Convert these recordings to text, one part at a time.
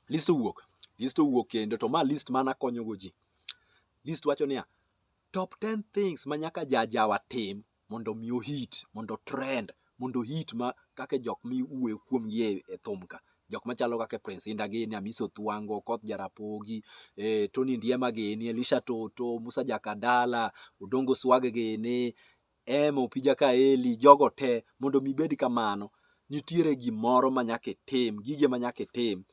list owuok list owuok kendo to ma list mana konyogo ji list wacho niya top 10 things ma nyaka jajawa tim mondo mi ohit mondo trend mondo hit ma kaka jok miwuoyo kuomgi e, e thum ka jok machalo kaka Prince Inda gini Amiso Thwango Koth Jarapogi eh, Tony Ndiema gini Elisha Toto Musa Jakadala Odongo Swag gini Emma, Opija Kaeli, jogo te, mondo mi ibed kamano, nitiere gimoro ma nyaka itim, gige ma nyaka itim.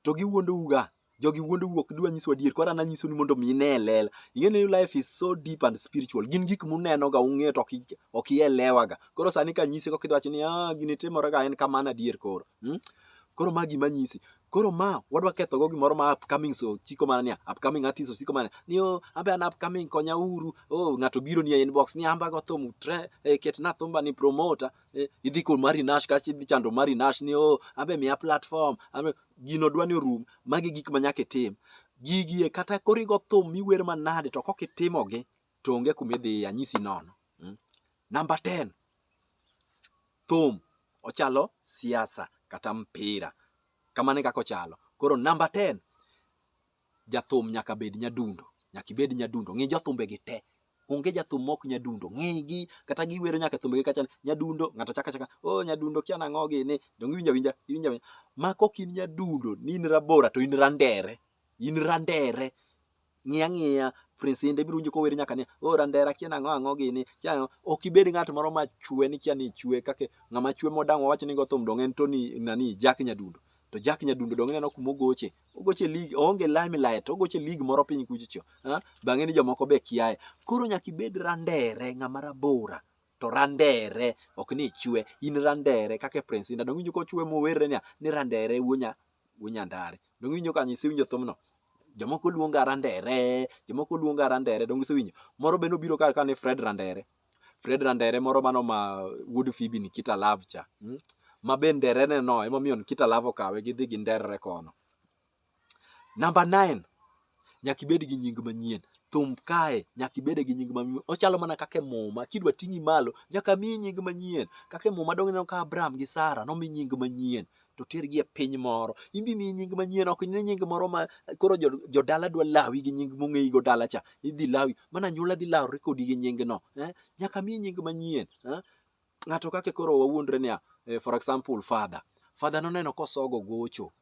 To giwuondouga, jogi wuondou ok dwa nyiswa adier, koro an anyisoni mondo mi ine e lela. Ing'e ni life is so deep and spiritual. Gin gik munenoga, ung'eyo to ok i- ok ielewaga. Koro sani kanyisi kok idhi wacho ni ah, gini timorega en kamano adier koro. Hmm? Koro ma gima nyisi. Koro ma wadwa ketho go gimoro ma upcoming so chiko mana niya upcoming artist osiko mana ni oh ambe an upcoming konya uru oh ng'ato biro ni e inbox ni amba go thum tre eh, ket na thumba ni promoter eh, idhi kod Mari Nash kachi idhi chando Mari Nash ni oh ambe miya platform ambe gino dwa ni orum magi gik ma nyaka itim gigie kata korigo thum miwer manade to kok itimogi to onge kuma idhiye anyisi nono mm. Namba 10. Thum ochalo siasa kata mpira. Kamano e kaka ochalo. Koro namba 10. Jathum nyaka bed nyadundo. Nyaka ibed nyadundo. Ng'i jathumbegi te. Onge jathum mok nyadundo. Ng'igi kata giwero nyaka thumbegi kacha nyadundo ng'ato chaka chaka oh nyadundo kia nang'o gini. Donge iwinja winja iwinja winja. Ma kok in nyadundo ni in rabora to in randere. in randere ng'iya ng'iya prince inde biro winjo kower nyaka ni o randera kia nang'o ang'o gini kia nang'o." ok ibed ng'at moro ma chwe ni kia ni ichwe kake ng'ama chwe modang' wawacho ni go thum dong' en tony nani jack nyadundo to jack nyadundo dong' ineno kuma ogoche ogoche lig oonge limelight ogoche lig moro piny kuchocho ha? bang'e ni jomoko be kiaye koro nyaka ibed randere ng'ama rabora to randere ok ni ichwe in randere kaka prince inda dong' winjo kochwe mowerre niya ni randere wuonya wuonya ndare Donge iwinjo kanyo isewinjo thumno? Jomoko luonga Randere, jomoko luonga Randere, donge isewinjo? Moro be nobiro kar kane Fred Randere. Fred Randere moro mano ma wuod Phoebe Nikita Love cha. Mm? Ma be nderene no emomiyo Nikita Love okawe gidhi gi nderre kono. Namba 9 nyaka ibed gi nying manyien thum kae nyaka ibede gi nying manyien ochalo mana kaka e muma kidwa ting'i malo nyaka miyi nying manyien kaka e muma donge ineno ka abraham gi sara nomi nying manyien to tergi e piny moro in be miyi nying manyien ok ne nying moro ma koro jo- jodala dwa lawi gi nying mong'eyi go dala cha idhi lawi mana anyuola dhi lawre kodi gi nyingno eh? nyaka miyi nying manyien eh? ng'ato kake koro wawuondre niya eh, for example father father noneno kosogo gocho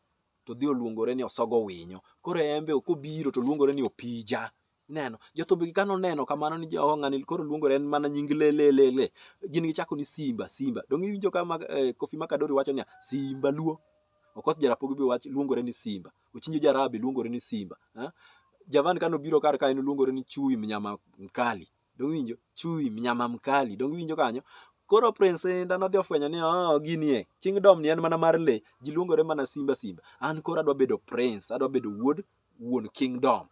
to dhi oluongore ni osogo winyo. Koro embe kobiro to oluongore ni opija. Ineno? Jothumbigi ka noneno kamano ni oh, ng'ani koro luongore en mana nying le le le le. Gin gichako ni Simba, Simba. Donge iwinjo ka ma, eh, Kofi Makadori wacho niya, Simba Luo. Okoth Jarapogi be wach luongore ni Simba. Ochinjo Jarabi luongore ni Simba. Ha? Javan ka nobiro kar ka en oluongore ni Chui Mnyama Mkali. Donge iwinjo? Chui mnyama mkali. Donge iwinjo kanyo? Koro Prince Inda nodhi ofwenyo ni oh, gini e kingdom ni en mana mar le, ji luongore mana simba simba. An koro adwa bedo prince, adwa bedo wuod wuon kingdom.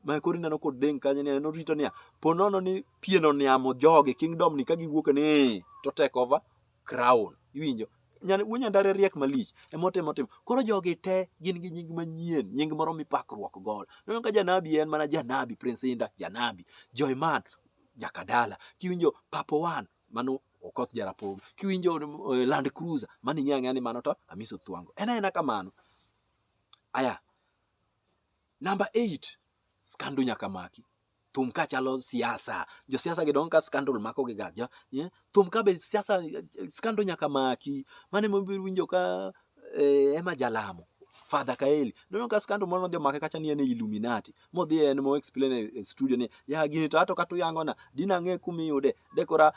Ma koro ineno kodeng' kanyo ni en orito niya, po nono ni pien oniamo jogi kingdom ni ka giwuok ni to take over crown. Iwinjo? Nyan- Wuo nyandare riek malich emotemo timo koro jogi te gin gi nying manyien nying moro mipakruok godo neno ka janabi en mana janabi prince inda janabi joyman jakadala kiwinjo papo wan mano okoth jarapogi kiwinjo eh, land cruiser mano ing'eyo ang'eya ni mano to amiso thuango en aena kamano aya Namba 8, skandu nyaka maki. Thum ka chalo siasa. Jo siasa gidong ka skandal mako gi gaja. Yeah? Thum ka be siasa skandal nyaka maki. Mane mo winjo ka eh, ema jalamo. Father Kaeli. Nono ka skando moro nodhi omake kacha ni en Illuminati. Modhi en mo explain e studio ni ya gini to ato katu yango na dina ng'e kumi yude. Dekora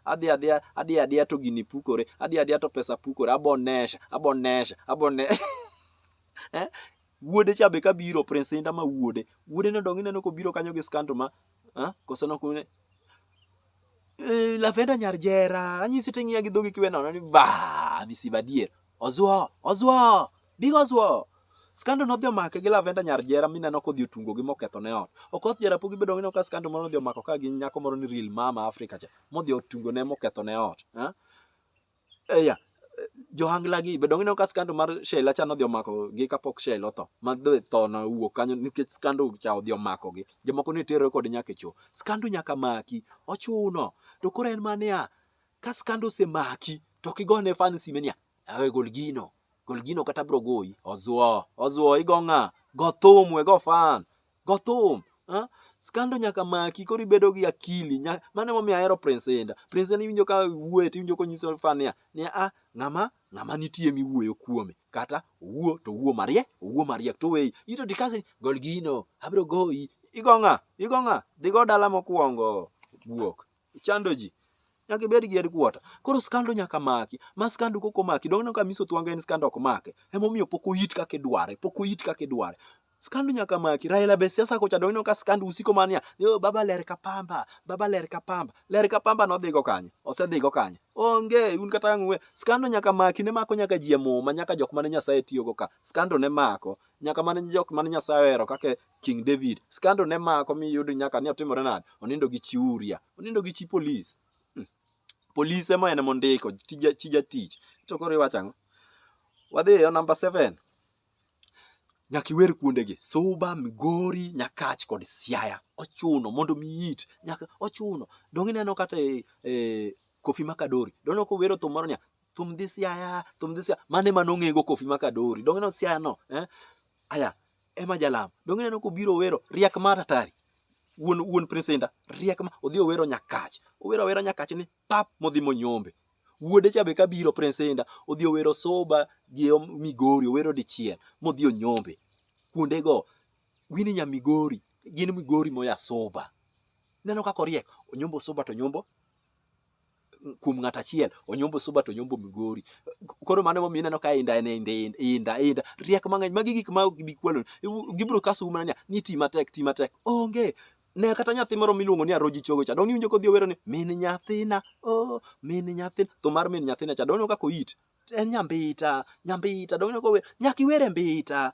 adhi adhi adhi adhi to gini pukore. Adhi adhi to pesa pukore. Abonesha, abonesha, abonesha. eh? wuode cha be kabiro prince inda ma wuode wuode ne odong ineno kobiro kanyo gi skanto ma eh? koso nok ne eh, lavenda nyar jera anyisi to ing'iya gi dhogi kiwe nono ni ba misiba dier ozuo ozuo big ozuo skando nodhi omake gi lavenda nyar jera mineno kodhi otungo gi moketho ne ot okoth jera pok gibedo ngino ka skando moro nodhi omako ka gi nyako moro ni real mama africa cha modhi otungo ne moketho ne ot eh? eya johanglagi be donge ineno ka skando mar Sheila cha nodhi omako gi kapok Sheila otho ma dhi tho na wuok kanyo nikech skando cha odhi omako gi jomoko ne terore kod nyaka e cho skando nyaka maki ochuno to koro en mania ka skando osemaki to kigone fansi mania awe gol gino gol gino kata bro goyi ozuo ozuo igo ng'a go thum we go fan go thum ha? skando nyaka maki koro ibedo gi akili nya- mano emomiyo ahero prince inda prince inda iwinjo ka wuoye to iwinjo konyiso fan niya niya a ng'ama ng'ama nitie miwuoyo kuome kata owuo to owuo mariek owuo mariek to weyi ito tikasi gol gino abro goyi igo ng'a igo ng'a dhigo dala mokwongo guok chando ji nyaka ibed gi headquarter koro skando nyaka maki ma skandu koko maki donge ka miso twanga en skando ok make emomiyo pok oyit kaka idware pok oyit kaka idware skandu nyaka maki raila be siasa kocha donge ka skandu usiko mania yo baba ler ka pamba baba ler ka pamba ler ka pamba nodhigo kanye osedhigo kanye onge un kata ng'we skandu nyaka maki ne mako nyaka ji e muma nyaka jok mane nyasaye tiyogo ka skandu ne mako nyaka mane jok mane nyasaye ohero kaka King David. Scandal ne mako mi yudo nyaka ni otimore nade? Onindo gi chi Uria. Onindo gi chi police. Hmm. Police ema en mondiko tija tija tich. To koro iwacho ang'o? Wadhi e number 7. Nyaka iwer kuondegi Suba, Migori, Nyakach kod Siaya. Ochuno mondo miyit. Nyaka ochuno. Donge ineno kata e, e Kofi Makadori. Donge kowero thum moro niya thum dhi siaya thum dhi siaya mane ma nong'ego kofi ma kadori donge no siaya no eh? aya ema jalam donge neno kobiro wero riak mar atari wuon wuon presenta riak ma odhi owero nyakach owero awera nyakach ni pap modhi monyombe wuode cha be kabiro presenta odhi owero soba gi om- migori owero dichiel modhi onyombe kuondego wini nya migori gin migori moya soba neno kaka oriek onyombo soba to nyombo kuom ng'at achiel onyombo suba to onyombo migori koro mano momiyo ineno ka inda en inda inda inda riek mang'eny magi gik ma ok bikwalo gibiro kasu mana ni ti matek ti matek onge ne kata nyathi moro miluongo ni aroji chogo cha dong iwinjo kodhi owero ni min nyathina oh min nyathina to mar min nyathina cha dong kaka oyit en nyambita nyambita dong iwinjo kower nyaka iwere mbita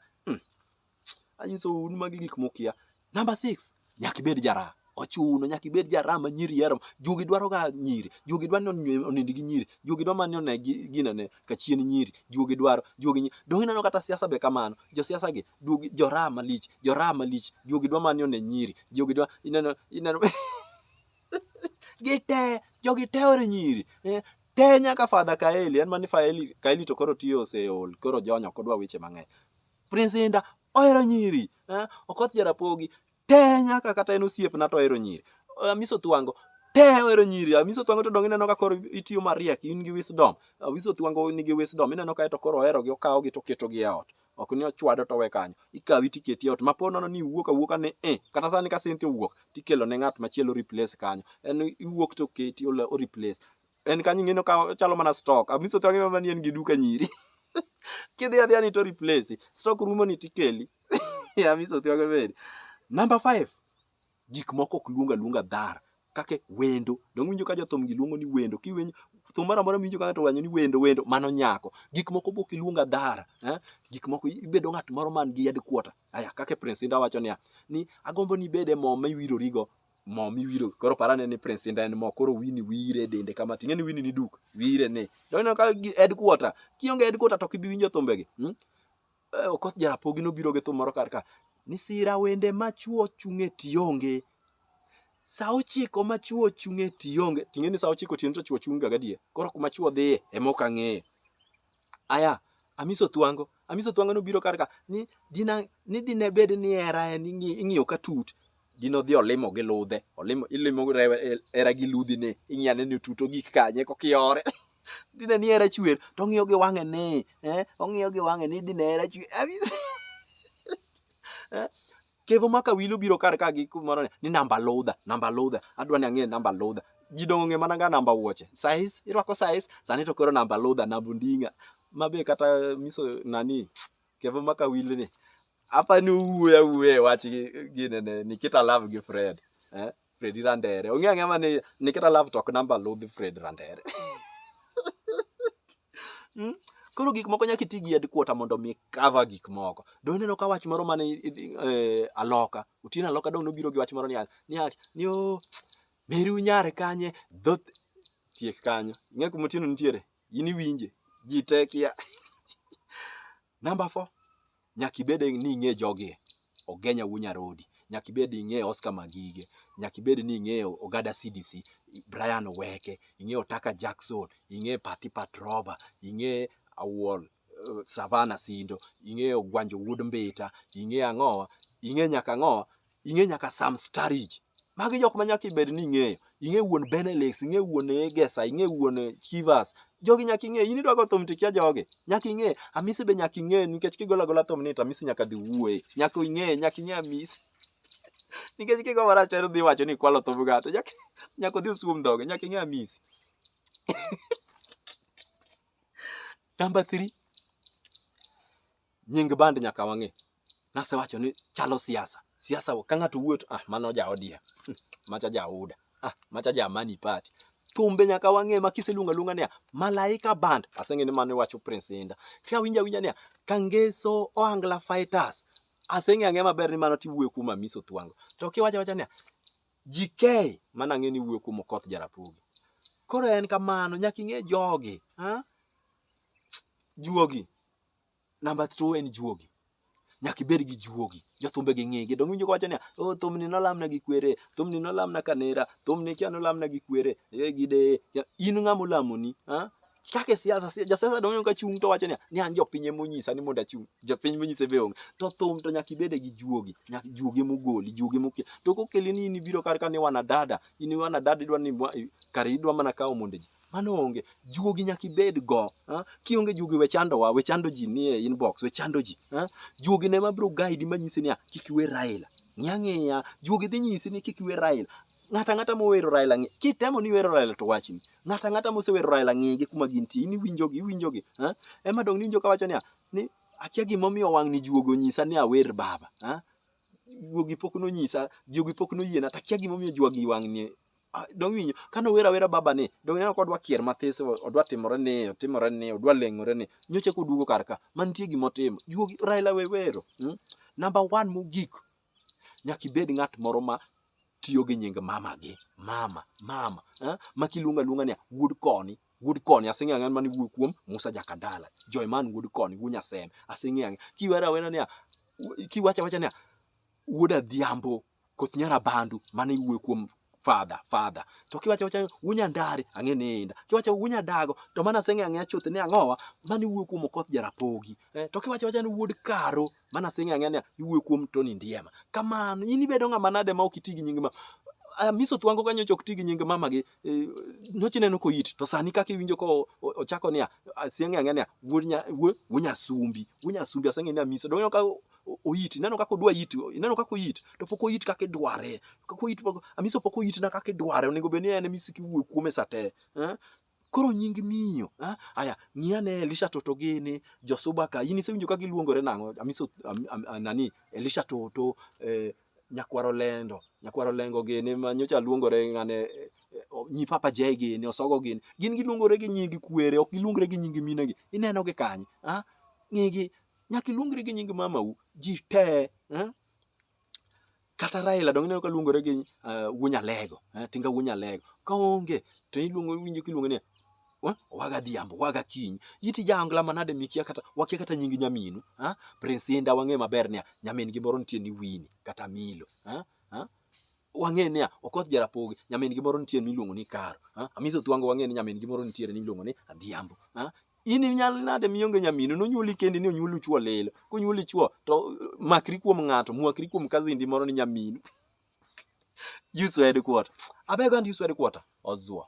Anyisou un magi gik mukia. Number six, nyaka ibed jaraha. Ochuno nyaka ibed jaraha ma nyiri hero. Juogi dwaroga nyiri. Juogi dwa ni onywe- onind gi nyiri. Juogi dwa mani one gi- ginene ka chien nyiri. Juogi dwaro. Juogi nyi- Donge ineno kata siasa be kamano. Josiasa gi, duogi, joraha malich, joraha malich. Juogi dwa mani one nyiri. Juogi dwa, ineno, ineno. gite jogi teore nyiri eh, te nyaka fadha kaeli en mani faeli kaeli to koro tiyo oseol koro jonyo ok odwa weche mang'eny prince inda ohero nyiri eh, okoth jarapogi te nyaka kata en osiepna to ohero nyiri Eh, miso thwango te ohero nyiri Ah, miso thwango to dong ineno ka koro itiyo mariek in gi wisdom Ah, miso thwango nigi wisdom ineno ka to koro oherogi okawogi to oketogi e ot ok ni ochwado to we kanyo ikawi tiketi e ot mapo nono ni iwuok awuoka ni eh kata sani ka Cynthia owuok tikelo ne ng'at machielo replace kanyo en iwuok to keti olo- o replace en kanyo ing'eno ka ochalo mana stock amiso to ang'e mani en gi duka nyiri kidhi adhiya ni to replace stock rumo ni tikeli amiso to ang'e bende number 5 Gik moko ok luong aluonga dhar kake wendo. Donge winjo ka jothumgi luongo ni wendo? Kiwinjo thum moro amora miwinjo ka ng'ato wanyo ni wendo wendo, mano nyako. Gik moko bok iluonga dhara. Eh? Gik moko ibedo ng'at moro man gi yad kuota. Aya, kake Prince Inda wacho niya, ni agombo ni ibed e mo ma iwirorigo mo miwiro koro parane ni prince inda en mo koro wini wire e dende kama ting'e ni wini ni duk wire ni donge ka gi- headquarter kionge headquarter to kibi winjo thumbegi hmm? Eh, Okoth Jarapogi nobiro gi thum moro kar ka ni sira wende machuo chung'e tionge sa ochiko machuo chung'e tionge ting'e ni sa ochiko tiende to chuo chung' ga gadier koro kuma chuo dhiye ema ok ang'eyo aya amiso thwango amiso thwango nobiro kar ka ni dina ni dine bed ni hera en ing'i- ing'iyo ka tut gin odhi olimo gi ludhe olimo ilimo era gi ludhi ne ing'iya ne tuto gik kanye kokiore dine ni era chwer to ong'iyo gi wang'e ni eh ong'iyo gi wang'e ni dine era chwer eh? kevo maka wilo biro kar ka gi kumoro ni namba ludha namba ludha adwa ni ang'e namba ludha ji dongo ng'e mana ga namba wuoche size irwako size sani to koro namba ludha namba ndinga mabe kata miso nani kevo maka wilo ni apa ni uwuoya wuoya e wach gi- gine ne nikita love gi fred eh? fredi randere ong'e ang'e ma ni nikita love tok namba ludh fred randere Mm? koro gik moko nyaka iti gi headquarter mondo mi cover gik moko do ineno ka wach moro mane i- i- eh, aloka otieno aloka dong nobiro gi wach moro niya niya ni o meri unyare kanye dhoth tiek kanyo ing'e kuma otieno nitiere in iwinje ji te kia Number four, nyaka ibed ni ing'e jogi Ogenya wuo Nyarodi, nyaka ibed ing'e Oscar Magige, nyaka ibed ni ing'e Ogada CDC, Brian Oweke, ing'e Otaka Jackson, ing'e Pati Patroba, ing'e Awuol uh, Savana Sindo, ing'e Ogwanjo Wuod Mbita, ing'e ang'owa, ing'e nyaka ang'owa, ing'e nyaka Sam Starich. Magi jok ma nyaka ibed ni ing'eyo. Ing'e wuon Benelix, ing'e wuon Egesa, ing'e wuon eh, Chivas. Jogi nyaka ing'e. In idwa go thum to ikia jogi. Nyaka ing'e. Amisi be nyaka ing'e nikech kigolo agola thum ni to Amisi nyaka dhi wuoye. Nyaka ing'e, nyaka ing'e Amisi. nikech kigo marach to dhi wacho ni kwalo thum gato. Nyaka nyaka odhi usum dhoge, nyaka ing'e Amisi. Number 3. nying band nyaka wang'e. Nasewacho ni chalo siasa. Siasa ka ng'ato wuot, ah mano ja ODM. Hmm, macha ja UDA. Ah macha ja Amani Party. Thumbe nyaka wang'e ma kiseluonga luonga niya Malaika Band. Aseng'e ni mano iwacho Prince Inda. Ka winja winja niya Kangeso Oangla Fighters. Aseng'e ang'e maber ni mano tiwuoyo kuom Amiso Thwango. To kiwacho wacho niya GK mana ang'e ni wuoyo kuom Okoth Jarapugi. Koro en kamano nyaka ing'e jogi. Ha? Juogi. Namba two en juogi. Nyaka ibed gi juogi. Jothumbe gi ng'egi. Dong' winjo kowacho niya, oh thumni nolamna gi kwere, thumni nolamna kanera, thumni kia nolamna gi kwere, eh gideye. In ng'ama olamoni, ah? Kaka e siasa, si- jasiasa dong' ka chung' to wacho niya, ni an jopiny ema onyisa ni mondo achung'. Jopiny monyise be onge. To thum to nyaka ibede gi juogi. Nyaka juogi ema ogoli, juogi ema okel. To kokeli ni in ibiro kar ka ni wanadada, in wanadada idwa ni mwa- kare idwa mana kawo monde ji. Mano onge. Juogi nyaka ibed go. ah. Kionge juogi we chandowa, we chando ji nie inbox, we chando ji. ah. Juogi ne ma bro guide ma nyisi niya, kik iwe Raila. Ng'i ang'iya, juogi dhi nyisi ni kik iwe Raila. Ng'ato ang'ata mowero Raila ng'i, kitemo ni iwero Raila to wachni. Ng'ato ang'ata mosewero Raila ng'i gi kuma gintie, in iwinjogi, iwinjogi. ah. Ema dong' niwinjo kawacho niya, ni akia gimomiyo wang'ni juogi onyisa ni awer baba. ah. juogi pok nonyisa juogi pok noyiena takia gimomiyo juogi wang'ni Ah, dong winyo kane owera wera baba ni dong ineno kodwa kier mathis o- odwa timore ni otimore ni odwa leng'ore ni nyocha koduogo kar ka mantie gima otimo juogi raila wewero mm? namba one mogik nyaka ibed ng'at moro ma tiyo gi nying mamagi mama mama eh? ma kiluonga luonga ni wuod koni wuod koni aseng'e ang'an mani wuok kuom musa jakadala joyman wuod koni wuod nyasem aseng'e ang'e kiwero awena niya kiwacho awacha niya wuod adhiambo koth nyara bandu mane iwuoyo kuom fadha fadha to kiwacho awacha wunyandare ang'e ni inda kiwacho wunyadago to mana aseng'e ang'e chuth ni ang'owa mane iwuoyo kuom okoth jarapogi Eh, to kiwacho wacha ni wuod karo mana sing'e ang'e ni iwuoyo kuom Tony Ndiema. Kamano in ibedo ng'ama nade ma ok iti gi nying ma Ah, miso thwango kanyo ok ti gi nying mama gi eh, nyochi neno ko it to sani kaka iwinjo ko o- ochako niya ah, sing'e ang'e niya wuod nya wuod wuod nyasumbi wuod nyasumbi aseng'e niya miso donyo ka o- o- oiti ineno kaka odwa it ineno kaka oit to pok oit kaka idware kaka oit pok amiso pok oitna kaka idware onego bed ni en miso kiwuoyo kuome sate eh? Koro nying miyo. Ha? Aya, ng'i ane Elisha Toto gini, Josuba ka. In isewinjo ka giluongore nang'o? Amiso am, am, am, nani Elisha Toto eh, nyakwaro lendo, nyakwaro lengo gini ma nyocha luongore ng'ane eh, eh, o- nyi Papa Jay gini, Osogo gini. Gin giluongore gi nying kwere, ok giluongre gi nying minegi. Ineno gi kanye? Ha? Ng'igi nyaka iluongri gi nying mamau. Ji te. Ha? Kata Raila donge ineno ka luongore gi uh, Wunyalego, eh, Tinga Wunyalego. Ka onge to iluongo winjo kiluongo ni wa- waga dhiambo waga kiny iti jaangla manade mikia kata wakia kata nying nyaminu ha prince inda wang'e maber niya nyamin gi moro nitie ni wini kata milo ha ha wang'e niya okoth jarapogi nyamin gi moro nitie miluongo ni karo ha amiso thwango wang'e ni nyamin gi moro nitie miluongo ni adhiambo ha in inyal nade mionge nyaminu nonyuoli kendi ni onyuolu chuo lilo konyuoli chuo to makri kuom ng'ato mwakri kuom kazindi moro ni nyaminu use word quarter abeg and use word quarter ozuo